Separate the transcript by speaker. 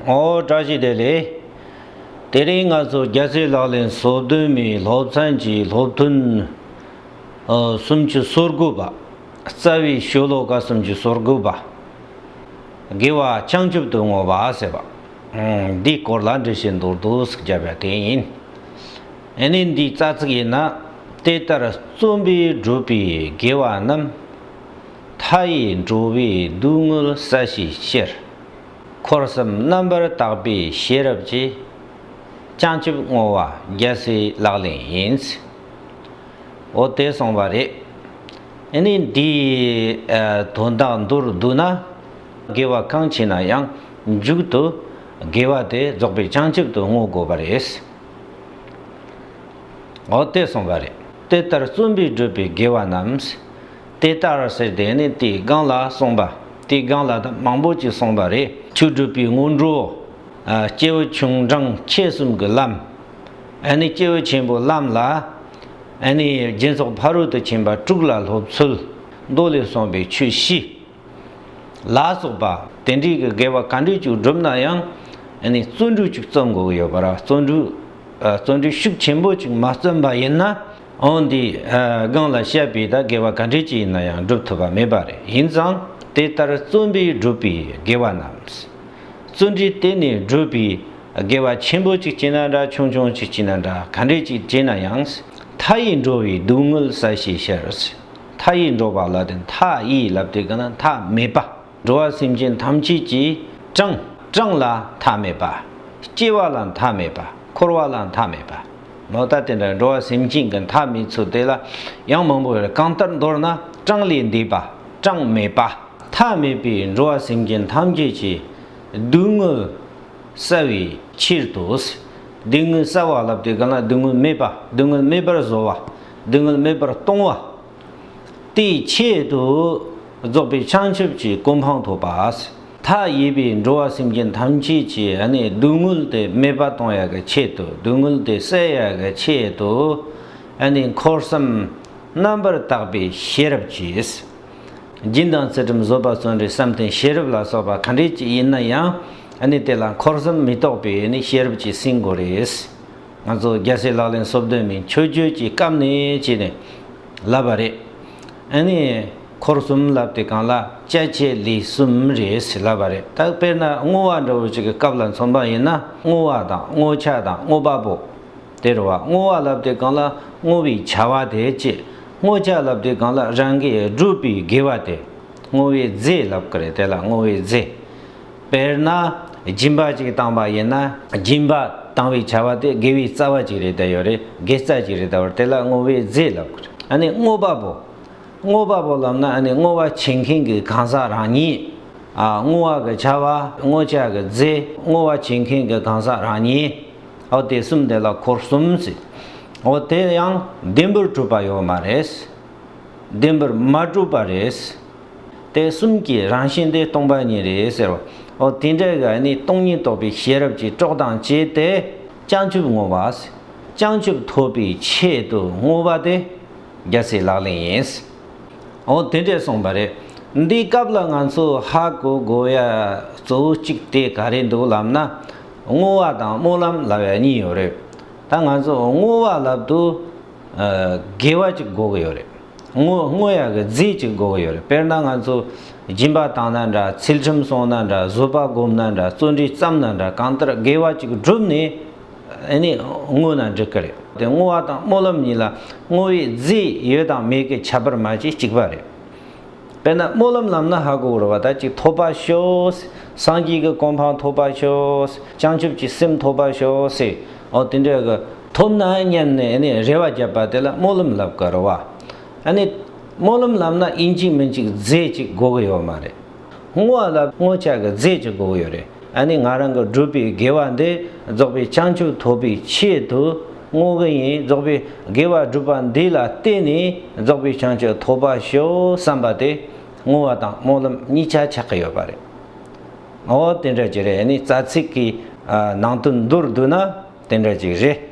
Speaker 1: ངོ་བོ་བཀྲ་ཤིས་བདེ་ལེགས། དེ་རིང་ང་ཚོ་རྒྱལ་སའི་ལག་ལེན་བཟོ་བསྡོམས་མིའི་སློབ་ཚན་གྱི་སློབ་ཐུན་སུམ་ཅུ་སོ་དགུ་པ། རྩ་བའི་ཤོ་ལོ་ཀ་སུམ་ཅུ་སོ་དགུ་པ། དགེ་བ་བྱང་ཆུབ་ཏུ་བསྔོ་བ་ཟེར་བ། འདིའི་སྐོར་ལ་འབྲི་བཞིན་འདུག་འདུག་ཟེར་བརྒྱབ་པ་དེ་ཡིན། ཡིན་ནའི་འདིའི་རྩ་ཚིག་ཡིན་ན། དེ་ལྟར་བརྩོན་པས་བསྒྲུབས་པའི་དགེ་བ་རྣམས། མཐའ་ཡས་འགྲོ་བའི་སྡུག་བསྔལ་ས་གཞིའི་ཕྱིར། འཁོར་གསུམ་རྣམ་པར་དག་པའི་ཤེས་རབ་ཀྱིས། བྱང་ཆུབ་བསྔོ་བ་རྒྱལ་སྲས་ལག་ལེན་ཡིན། འོ་དེས་སོང་བ་རེད། ཨེ་ནས་འདིའི་དོན་དག་མདོར་བསྡུ་ན། དགེ་བ་གང་བྱས་ན་ཡང་མཇུག་ཏུ་དགེ་བ་དེ་རྫོགས་པའི་བྱང་ཆུབ་ཏུ་བསྔོ་དགོས་པ་རེད། འོ་དེས་སོང་བ་རེད། དེ་ལྟར་བརྩོན་པས་བསྒྲུབས་པའི་དགེ་བ་རྣམས། དེ་ལྟར་ཟེར་དེ་ནི་དེའི་སྒང་ལ་སོང་པ། དེའི་སྒང་ལ་དང་མང་པོ་ཅིག་སོང་པ་རེད། ཆོས་སྒྲུབ་པའི་སྔོན་འགྲོ། སྐྱེས་བུ་ཆུང་འབྲིང་ཆེ་གསུམ་གྱི་ལམ། ཨཱ་ནི་སྐྱེས་བུ་ཆེན་པོའི་ལམ་ལ། ཨཱ་ནི་སྦྱིན་སོགས་ཕ་རོལ་ཏུ་ཕྱིན་པ་དྲུག་ལ་སློབ་ཚུལ། མདོ་ལས་གསུངས་པའི་ཆོས་བཞི། ལ་སོགས་པ། དེ་འདྲའི་གི་དགེ་བ་ག་འདྲས་ཅིག་བསྒྲུབ་ན་ཡང། ཨཱ་ནི་བརྩོན་འགྲུས་ཅིག་བརྩོན་དགོས་ཀྱི་ཡོད་པ་ར། བརྩོན་འགྲུས། བརྩོན་འགྲུས་ཤུགས་ཆེན་པོ་ཅིག་མ་བརྩོན་པ་ཡིན་ན། ཨང་འདིས་སྒང་ལ་བཤད་པའི་དག་དགེ་བ་ག་འདྲས་ཀྱི་ཡིན་ན་ཡང་སྒྲུབ་ཐུབ་པ་མེད་པ་རེད་ཡིན་ཙང་དེ་ལྟར་བརྩོན་པས་བསྒྲུབས་པའི་དགེ་བ་རྣམས། བརྩོན་འགྲུས་བརྟེན་ནས་བསྒྲུབས་པའི་དགེ་བ་ཆེན་པོ་གཅིག་བྱས་ན་འདྲ་ཆུང་ཆུང་གཅིག་བྱས་ན་འདྲ་ག་འདྲས་ཀྱིས་བྱས་ན་ཡང་མཐའ་ཡས་འགྲོ་བའི་སྡུག་བསྔལ་ས་ཞེས་བཤད། མཐའ་ཡས་འགྲོ་བ་ལ་དེ་མཐའ་ཡས་ལབ་དེ་ག་ན་མཐའ་མེད་པ། འགྲོ་བ་སེམས་ཅན་ཐམས་ཅད་ཀྱི་གྲངས། གྲངས་ལ་མཐའ་མེད་པ། སྐྱེ་བ་ལ་མཐའ་མེད་པ། འཁོར་བ་ལ་མཐའ་མེད་པ། ལོག་ལྟ་དེ་འདྲ་འགྲོ་བ་སེམས་ཅན་གྱི་མཐའ་མེད་ཚུལ་དེ་ལ་ཡང་མང་པོ་རེ་གང་ལྟར་མདོར་ན་གྲངས་ལས་འདས་པ་གྲངས་མེད་པ། མཐའ་མེད་པའི་འགྲོ་བ་སེམས་ཅན་ཐམས་ཅད་ཀྱི་སྡུག་བསྔལ་བསལ་བའི་ཕྱིར་དུ། སྡུག་བསྔལ་བསལ་བ་ལབ་སྟེ་གང་ལ་སྡུག་བསྔལ་མེད་པ་སྡུག་བསྔལ་མེད་པར་བཟོ་བ་སྡུག་བསྔལ་མེད་པར་གཏོང་བ། དེའི་ཆེད་དུ་རྫོགས་པའི་བྱང་ཆུབ་ཀྱི་གོ་འཕང་ཐོབ་པ། མཐའ་ཡས་པའི་འགྲོ་བ་སེམས་ཅན་ཐམས་ཅད་ཀྱི་སྡུག་བསྔལ་དེ་མེད་པ་གཏོང་ཡ་གི་ཆེད་དུ་སྡུག་བསྔལ་དེ་བསལ་ཡ་གི་ཆེད་དུ་འཁོར་གསུམ་རྣམ་པར་དག་པའི་ཤེས་རབ་ཀྱིས། སྦྱིན་དང་ཚུལ་ཁྲིམས་བཟོད་པ་བརྩོན་འགྲུས་བསམ་གཏན་ཤེས་རབ་ལ་སོགས་པ་ག་འདྲས་ཀྱི་ཡིན་ན་ཡང་དེ་ལ་འཁོར་གསུམ་མི་རྟོག་པའི་ཤེས་རབ་ཀྱིས་ཟིན་དགོས་རེད། ང་ཚོ་རྒྱལ་སྲས་ལག་ལེན་གསོབ་འདོད་མིན་ཆོས་བརྒྱུད་ཀྱི་སྐབས་ནས་བྱས་ནས་ལབ་པ་རེད། ཨ་ནི་འཁོར་གསུམ་ལབ་དེ་གང་ལ་དཔྱད་བྱས་ལས་གསུམ་རེད་ཟེར་ལབ་པ་རེད་ད་དཔེར་ན་བསྔོ་བ་འདྲ་བོ་ཅིག་གི་སྐབས་ལ་མཚོན་པ་ཡིན་ན་བསྔོ་བ་དང་བསྔོ་བྱ་དང་བསྔོ་བ་པོ། དེར་བ་བསྔོ་བ་ལབ་དེ་གང་ལ་བསྔོ་བའི་བྱ་བ་དེ་བྱེད། བསྔོ་བྱ་ལབ་དེ་གང་ལ་རང་གིས་བསྒྲུབ་པའི་དགེ་བ་དེ། བསྔོ་བའི་རྫས་ལབ་ཀི་རེད་དེ་ལ་བསྔོ་བའི་རྫས། དཔེར་ན། སྦྱིན་པ་ཅིག་བཏང་བ་ཡིན་ན། སྦྱིན་པ་བཏང་བའི་བྱ་བ་དེ་དགེ་བའི་རྩ་བ་ཅིག་རེད་དེ་ཡོད་རེད་དགེ་རྩ་ཅིག་རེད་དེ་བར་དེ་ལ་བསྔོ་བའི་རྫས་ལབ་དགོས་རེད་ཨ་ནི་བསྔོ་བ་པོ། བསྔོ་བ་པོ་ལབ་ན་ཨ་ནི་བསྔོ་བ་བྱེད་མཁན་གྱི་གང་ཟག་རང་ཉིད། བསྔོ་བ་གི་བྱ་བ་བསྔོ་བྱ་གི་རྫས་བསྔོ་བ་བྱེད་མཁན་གྱི་གང་ཟག་རང་ཉིད། ཨོ་དེ་གསུམ་དེ་ལ་འཁོར་གསུམ་ཟེར། ཨོ་དེ་ཡང་བདེན་པར་གྲུབ་པ་ཡོད་མ་རེད། བདེན་པར་མ་གྲུབ་པ་རེད། དེ་གསུམ་གྱི་རང་བཞིན་དེ་སྟོང་པ་ཉིད་རེད་ཟེར་བ། འོ་དེ་འདྲའི་ག་ནི་སྟོང་ཉིད་རྟོགས་པའི་ཤེས་རབ་ཀྱིས་དཀྲོག་དང་བཅས་ཏེ་བྱང་ཆུབ་བསྔོ་བ། བྱང་ཆུབ་ཐོབ་པའི་ཆེད་དུ་བསྔོ་བ་དེ་རྒྱལ་སྲས་ལག་ལེན་ཡིན། འོ་དེ་འདྲས་གསུངས་པ་རེད། འདིའི་སྐབས་ལ་ང་ཚོ་ཧ་གོ་དགོས་ཡ་གཙོ་བོ་གཅིག་དེ་ག་རེད་འདུག་ལབ་ན། བསྔོ་བ་དང་སྨོན་ལམ་ལབ་ཡ་གཉིས་ཡོད་རེད། ད་ང་ཚོ་བསྔོ་བ་ལབ་དུས་དགེ་བ་གཅིག་གོ་གི་ཡོད་རེད། དངོས་ཡག་གི་རྫས་གཅིག་འགོ་གི་ཡོད་རེད་དཔེར་ན་ང་ཚོ་སྦྱིན་པ་བཏང་ན་འདྲ་ཚུལ་ཁྲིམས་སྲོང་ན་འདྲ་བཟོད་པ་སྒོམ་ན་འདྲ་བརྩོན་འགྲུས་བརྩམས་ན་འདྲ་གང་ལྟར་དགེ་བ་གཅིག་བསྒྲུབས་ནས་ཨེ་ནས་བསྔོས་ན་འགྲིག་གི་རེད་དེ་བསྔོ་བ་དང་སྨོན་ལམ་གཉིས་ལ་བསྔོ་བའི་རྫས་ཡོད་དང་མེད་ཀྱི་ཁྱད་པར་མ་གཅིག་གཅིག་པ་རེད། དཔེར་ན་སྨོན་ལམ་ལམ་ན་ཧ་གོ་བོར་བ་དག་ཅིག་ཐོབ་པར་ཤོག། སངས་རྒྱས་ཀྱི་གོ་འཕང་ཐོབ་པར་ཤོག། བྱང་ཆུབ་ཀྱི་སེམས་ཐོབ་པར་ཤོག། ཨོ་དེ་འདྲའི་གི། ཐོབ་ན་སྙམ་ནས་རེ་བ་བརྒྱབ་པ་དེ་ལ་སྨོན་ལམ་ལབ་དཀའ་རོ། སྨོན་ལམ་ལབ་ན་ཨིན་གཅིག་མིན་གཅིག་རྫས་གཅིག་དགོས་ཀྱི་ཡོད་མ་རེད། བསྔོ་བ་ལབ་བསྔོ་བྱ་གི་རྫས་གཅིག་དགོས་ཀྱི་ཡོད་རེད། ང་རང་གི་སྒྲུབ་པའི་དགེ་བ་འདི་རྫོགས་པའི་བྱང་ཆུབ་ཐོབ་པའི་ཆེད་དུ་བསྔོ་གི་ཡིན་རྫོགས་པའི་དགེ་བ་སྒྲུབ་པ་འདི་ལ་བརྟེན་ནས་རྫོགས་པའི་བྱང་ཆུབ་ཐོབ་པ་ཞུ་བསམ་པ་དེ་བསྔོ་བ་དང་སྨོན་ལམ་གཉིས་ཆ་ཆགས་ཀྱི་ཡོད་པ་རེད། འོ་དེ་འདྲ་ཅིག་རེད་ནི་རྩ་ཚིག་གི་ནང་དོན་མདོར་བསྡུས་ན་དེ་འདྲ་ཅིག་རེད།